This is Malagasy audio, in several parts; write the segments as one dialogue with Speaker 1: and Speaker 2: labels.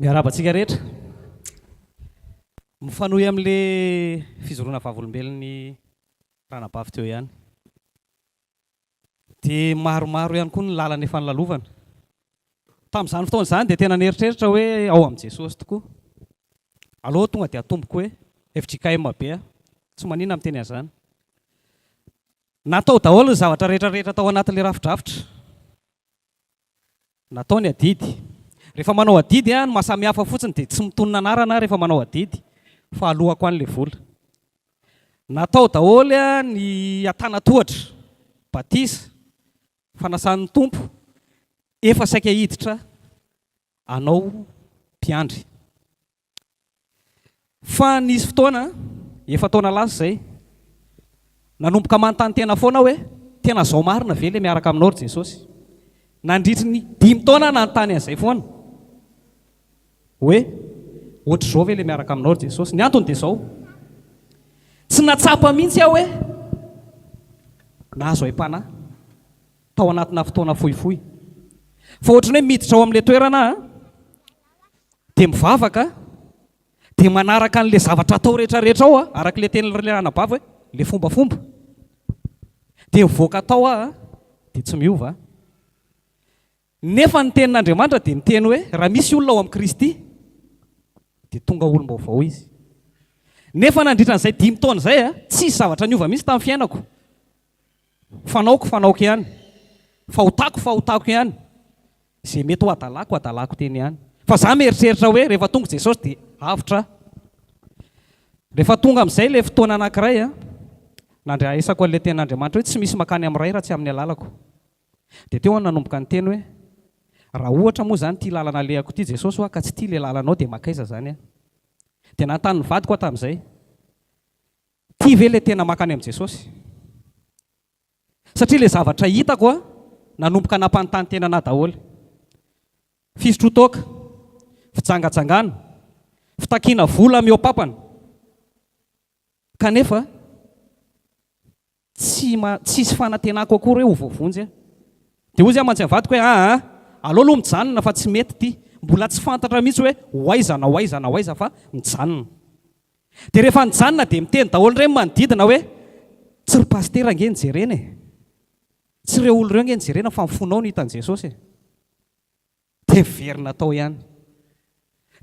Speaker 1: Miarahaba antsika rehetra. Mifanohy amin'ilay fizoroana vavolombelon'ny ranabavy teo ihany. Dia maromaro ihany koa ny lalana efa nolalovana. Tamin'izany fotoana izany dia tena nieritreritra aho hoe ao amin'i Jesosy tokoa. Aleo tonga dia atomboko hoe fjkm be aho. Tsy maninona miteny an'izany. Natao daholo ny zavatra rehetra rehetra tao anatin'ilay rafidrafitra. Natao ny adidy. Rehefa manao adidy aho, ny maha samy hafa fotsiny dia tsy mitonona anarana aho rehefa manao adidy fa alohako any ilay vola. Natao daholo ny antanatohatra, batisa, fanasan'ny Tompo, efa saika hiditra anao mpiandry. Fa nisy fotoana, efa-taona lasa izay, nanomboka manontany tena foana aho hoe, tena izao marina ve ilay miaraka aminao ry Jesosy? Nandritry ny dimy taona aho nanontany an'izay foana, hoe ohatr'izao ve ilay miaraka aminao ry Jesosy? Ny antony dia izao, tsy nahatsapa mihitsy aho hoe nahazo aim-panahy tao anatina fotoana fohifohy, fa ohatran'ny hoe miditra ao amin'ilay toerana aho. dia mivavaka dia manaraka an'ilay zavatra atao rehetra rehetra ao aho araka ilay tenin'ilay anabavy hoe ilay fombafomba dia mivoaka atao aho dia tsy miova nefa ny tenin'Andriamanitra dia miteny hoe raha misy olona ao amin'i Kristy dia tonga olom-baovao izy nefa nandritra an'izay dimy taona izay a tsisy zavatra niova mihitsy tamin'ny fiainako Fanaoko fanaoko ihany, fahotako fahotako ihany, izay mety ho adalako adalako teny ihany. Fa za mieritreritra hoe rehefa tonga Jesosy dia avotra aho. Rehefa tonga amin'izay ilay fotoana anankiray an, nandraisako an'ilay tenin'Andriamanitra hoe tsy misy makany amin'ny Ray raha tsy amin'ny alalako. Dia teo aho nanomboka niteny hoe, raha ohatra moa izany ity lalana alehako ity Jesosy hoa ka tsy tia ilay lalanao dia makaiza izany aho? Dia nanontany ny vadiko aho tamin'izay Ty ve le tena makany am Jesosy? Satria le zavatra hitako a nanomboka nampanontany tena anah daholo. Fisotrotoaka, fijangajangana, fitakiana vola mihoapapana kanefa tsy tsisy fanantenako akory hoe ho voavonjy aho. Dia hoy zay amantsy am vadiko hoe aa aleo aloha mijanona fa tsy mety ty. Mbola tsy fantatra mihitsy hoe ho aiza na ho aiza na ho aiza fa mijanona. Dia rehefa nijanona dia miteny daholo ireny manodidina hoe, tsy ry pasitera ange no jerena e! Tsy ireo olona ireo ange no jerena fa ny fonao no hitan'i Jesosy e! Dia niverina tao ihany.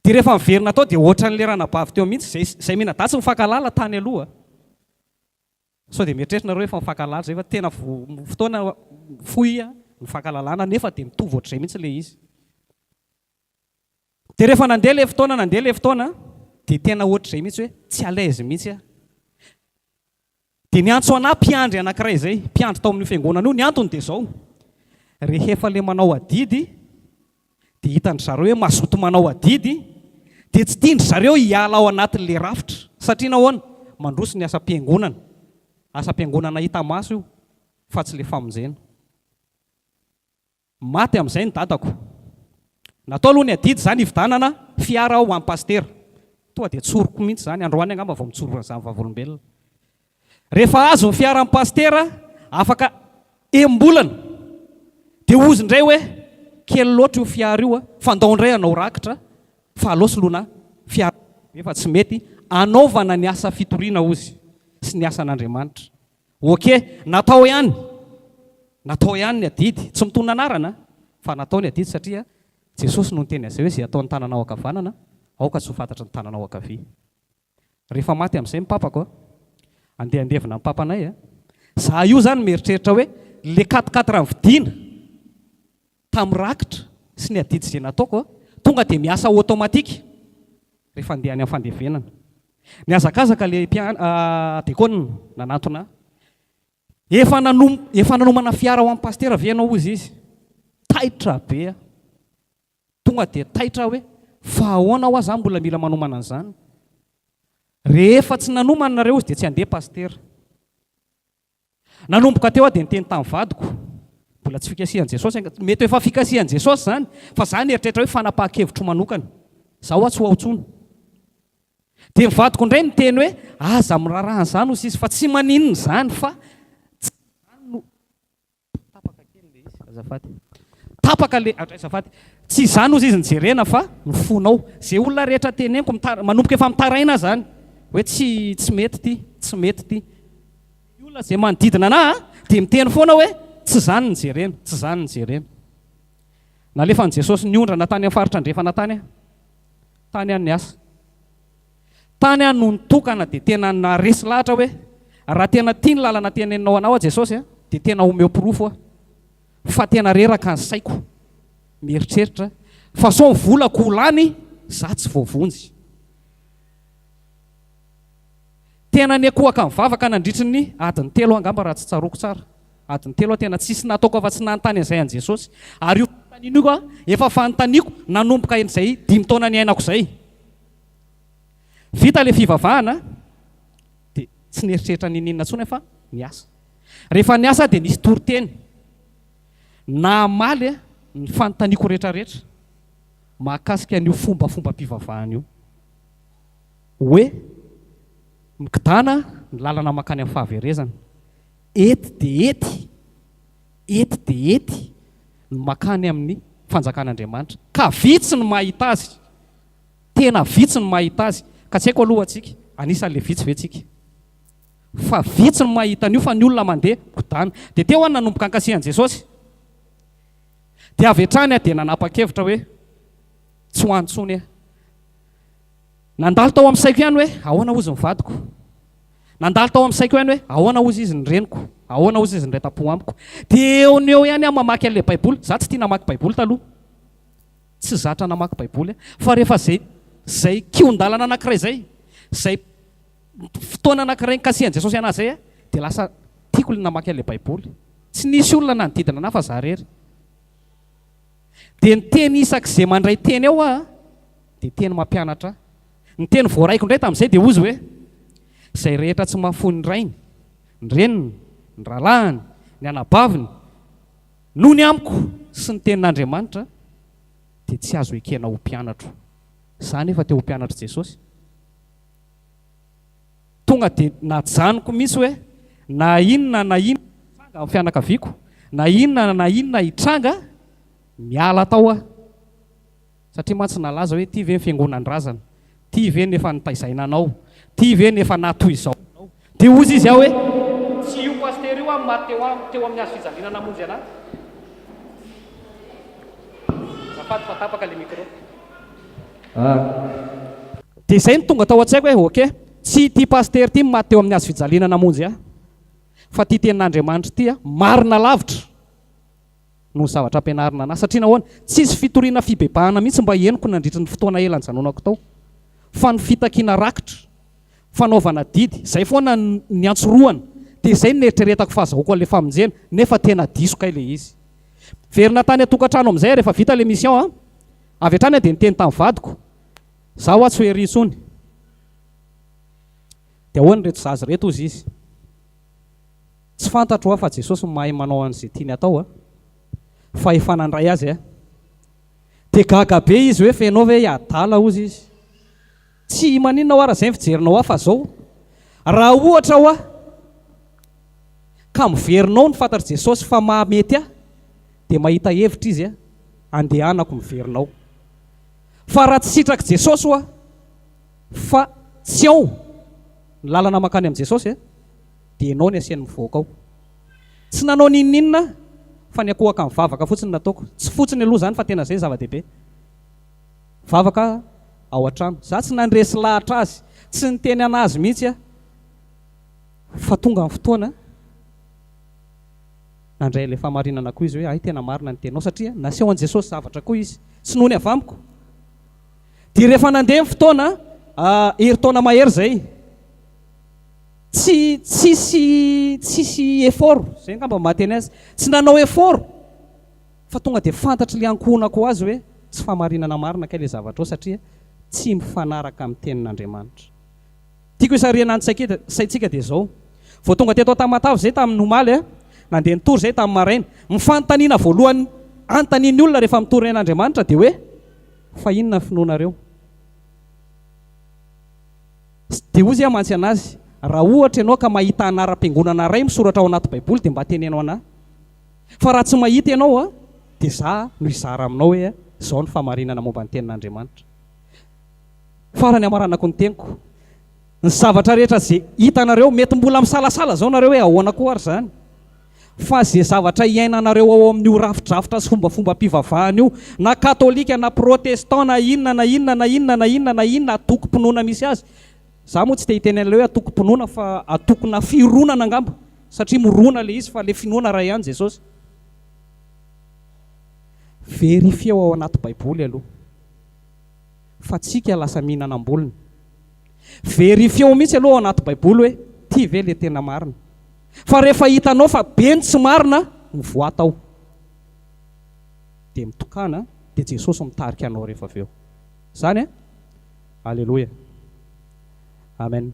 Speaker 1: Dia rehefa niverina tao dia ohatran'ilay ranabavy teo mihitsy, izay, izay miana-datsy mifankahalala tany aloha. Sao dia mieritreritra nareo efa mifankahalala izay fa tena vo, fotoana fohy nifankahalalana nefa dia mitovy ohatr'izay mihitsy ilay izy. Dia rehefa nandeha ilay fotoana nandeha ilay fotoana dia tena ohatr'izay mihitsy hoe tsy à l'aise mihitsy aho. Dia niantso anà mpiandry anankiray izay, mpiandry tao amin'io fiangonana io, ny antony dia izao, rehefa ilay manao adidy dia hitan-dry zareo hoe mazoto manao adidy dia tsy tian-dry zareo hiala ao anatin'ilay rafitra, satria nahoana? Mandroso ny asam-piangonana, asam-piangonana hita maso io fa tsy ilay famonjena. Maty amin'izay ny dadako. Natao aloha ny adidy izany hividanana fiara aho ho an'i Pasitera. Tonga dia tsoriko mihitsy izany, androany angamba vao mitsorona izany vavolombelona. Rehefa azo ny fiara an'i Pasitera, afaka enim-bolana, dia hozy indray hoe, kely loatra io fiara io, fa ndao indray hanao rakitra, fa aleo soloina fiara lehibe fa tsy mety hanaovana ny asa fitoriana hozy, sy ny asan'Andriamanitra. Ok, natao ihany, natao ihany ny adidy, tsy mitonona anarana fa natao ny adidy satria Jesosy no niteny an'izay hoe izay ataon'ny tananao ankavanana aoka tsy ho fantatry ny tananao ankavia. Rehefa maty amin'izay ny papako a, andeha handevina ny papanay a, za io zany mieritreritra hoe le quatre quatre mividiana, tamin'ny rakitra sy ny adidy izay nataoko, tonga dia miasa automatique rehefa andeha any amin'ny fandevenana. Nihazakazaka ilay mpian, dekona nanantona ahy. Efa nanom, efa nanomana fiara ho an'ny pasitera ve ianao hozy izy. Taitra be aho. Tonga dia taitra aho hoe, fa ahoana hoa za mbola mila manomana an'izany. Rehefa tsy nanomana nareo izy dia tsy handeha pasitera. Nanomboka teo aho dia niteny tamin'ny vadiko, mbola tsy fikasihan'i Jesosy angaha, mety ho efa fikasihan'i Jesosy izany, fa izaho nieritreritra hoe fanapahan-kevitro manokana, izaho hoa tsy ho ao intsony. Dia ny vadiko indray niteny hoe, aza miraharaha an'izany hoy sisa, fa tsy maninona izany, fa tsy izany no. Tapaka kely le izy azafady. Tapaka le adray azafady. Tsy izany ozy izy nijerena fa ny fonao. Ze olona rehetra teneniko mitara, manomboka efa mitaraina zany hoe tsy tsy mety ty, tsy mety ty. Ny olona ze manodidina anah a de miteny foana hoe tsy zany ny jerena, tsy zany ny jerena. Nalefan'i Jesosy niondrana tany amin'ny faritra andrefana tany aho, tany an'ny asa. Tany aho no nitokana dia tena naharesy lahatra hoe raha tena tia ny lalana teneninao anao aho Jesosy a, dia tena omeo porofo aho fa tena reraka ny saiko mieritreritra fa sao ny volako ho lany za tsy voavonjy. Tena niakohaka nivavaka nandritry ny adiny telo angamba raha tsy tsaroako tsara, adiny telo aho tena tsisy nataoko afa tsy nanontany an'izay an'i Jesosy ary io fanontaniana io efa fanontaniako nanomboka izay dimy taona niainako izay. Vita ilay fivavahana dia tsy nieritreritra n'inon'inona intsony aho fa niasa. Rehefa niasa aho dia nisy toriteny namaly ny fanontaniako rehetrarehetra mahakasika an'io fombafombam-pivavahana io. Hoe mikidana ny lalana mankany amin'ny fahaverezana. Ety dia ety, ety dia ety ny mankany amin'ny fanjakan'Andriamanitra ka vitsy ny mahita azy Tena vitsy ny mahita azy, ka tsy haiko aloha tsika anisan'le vitsy ve tsika? Fa vitsy ny mahita an'io fa ny olona mandeha migodana. Dia teo aho no nanomboka hankasiha an'i Jesosy. Dia avy hatrany aho dia nanapa-kevitra hoe tsy ho any intsony aho. Nandalo tao amin'ny saiko ihany hoe ahoana hozy ny vadiko? Nandalo tao amin'ny saiko ihany hoe ahoana hozy izy ny reniko? Ahoana hozy izy ny reta-po amiko? Dia eo no eo ihany aho mamaky an'ilay Baiboly. Izaho tsy tia namaky Baiboly taloha. Tsy zatra namaky baiboly aho fa rehefa izay izay kihon-dalana anankiray izay, izay fotoana anankiray nikasihan'i Jesosy anahy izay aho dia lasa tiako ilay namaky an'ilay baiboly. Tsy nisy olona nanodidina anahy fa za rery. Dia ny teny isak'izay mandray teny ao aho dia teny mampianatra ahy. Ny teny voaraiko indray tamin'izay dia hozy hoe, izay rehetra tsy mahafoy ny rainy, ny reniny, ny rahalahiny, ny anabaviny, Noho ny amiko sy ny tenin'Andriamanitra dia tsy azo ekena ho mpianatro. Izaho anefa te ho mpianatr'i Jesosy. Tonga dia najanoko mihitsy hoe na inona na inona hitranga amin'ny fianakaviako, na inona na inona hitranga, miala tao aho. Satria mantsy nalaza hoe ty ve ny fiangonan-drazana? Ty ve no efa notaizaina anao? Ty ve no efa natohizao anao? Dia hozy izy ao hoe, Tsy io pasitera io aho no maty teo aminy, teo amin'ny hazo fijaliana namonjy anahy. Azafady fa tapaka ilay micro. Ah. Dia izay no tonga tao an-tsaiko hoe, ok, tsy ity pasitera ity no maty teo amin'ny hazo fijaliana namonjy ahy, fa ity tenin'Andriamanitra ity an, marina lavitra. no zavatra ampianarina an'ahy. Satria nahoana? Tsisy fitoriana fibebahana mihitsy mba henoko nandritry ny fotoana ela nijanonako tao. Fa ny fitakiana rakitra, fanaovana didy, izay foana niantsorohana. Dia izay no neritreretako fa azahoako an'ilay famonjena, nefa tena diso kay ilay izy. Miverina tany an-tokantrano amin'izay aho rehefa vita ilay mission an. Avy hatrany aho dia niteny tamin'ny vadiko, izaho hoa tsy ho ery intsony. Dia ahoana ireto zaza ireto? hozy izy. Tsy fantatro aho fa Jesosy no mahay manao an'izay tiany atao a! Fa efa nandray azy a! Dia gaga be izy hoe fa ianao ve i adala hozy izy. Tsy i maninona hoa raha izay ny fijerinao ahy fa izao raha ohatra hoa ka miverinao ny fantatr'i Jesosy fa maha mety ahy dia mahita hevitra izy a! Andehanako miverina ao. Fa raha tsy sitrak'i Jesosy hoa fa tsy ao ny lalana mankany amin'i Jesosy a! Dia enao ny asiany mivoaka ao. Tsy nanao n'inon'inona aho fa ny akohaka mivavaka fotsiny no nataoko. Tsy fotsiny aloha izany fa tena izay zava-dehibe. Vavaka ao an-trano. Izaho tsy nandresy lahatra azy. Tsy niteny an'azy mihitsy aho. Fa tonga ny fotoana, nandray ilay fahamarinana koa izy hoe, hay tena marina ny teninao satria naseho an'i Jesosy zavatra koa izy. Tsy noho ny avy amiko. Dia rehefa nandeha ny fotoana, herintaona mahery izay. Tsy tsisy tsisy effort, zay ngamba ny maha teny azy. Tsy nanao effort fa tonga dia fantatry le ankohonako azy hoe tsy fahamarinana marina kay le zavatrao satria tsy mifanaraka amin'ny tenin'Andriamanitra. Tiako hisarihana ny saintsika dia zao, vao tonga teto Tamatave zay tamin'ny omaly a, nandeha nitory zay tamin'ny maraina, ny fanontaniana voalohany antanin'ny olona rehefa mitory ain'Andriamanitra dia hoe fa inona ny finoanareo? Tsy dia hozy aho mantsy an'azy, raha ohatra ianao ka mahita anaram-piangonana iray misoratra ao anaty baiboly dia mba teneno an'ahy. Fa raha tsy mahita ianao dia za no hizara aminao hoe izao ny fahamarinana momba ny tenin'Andriamanitra. Farany hamaranako ny teniko. Ny zavatra rehetra izay hitanareo, mety mbola misalasala izao nareo hoe ahoana koa ary izany? Fa izay zavatra iainanareo ao amin'io rafidrafitra sy fombafombam-pivavahana io, na katolika, na protestant, na inona na inona, na inona na inona, na inona antokom-pinoana misy azy, za moa tsy te hiteny an'ilay hoe antokom-pinoana fa antokona fironana angamba, satria mirona ilay izy fa ilay finoana iray ihany Jesosy. Verifieo ao anaty baiboly aloha fa tsika lasa mihinana am-bolony. Verifieo mihitsy aloha ao anaty baiboly hoe ty ve le tena marina. Fa rehefa hitanao fa be ny tsy marina no voa tao dia mitokana dia Jesosy mitarika anao rehefa avy eo. Izany eh? Aleloia. Amen.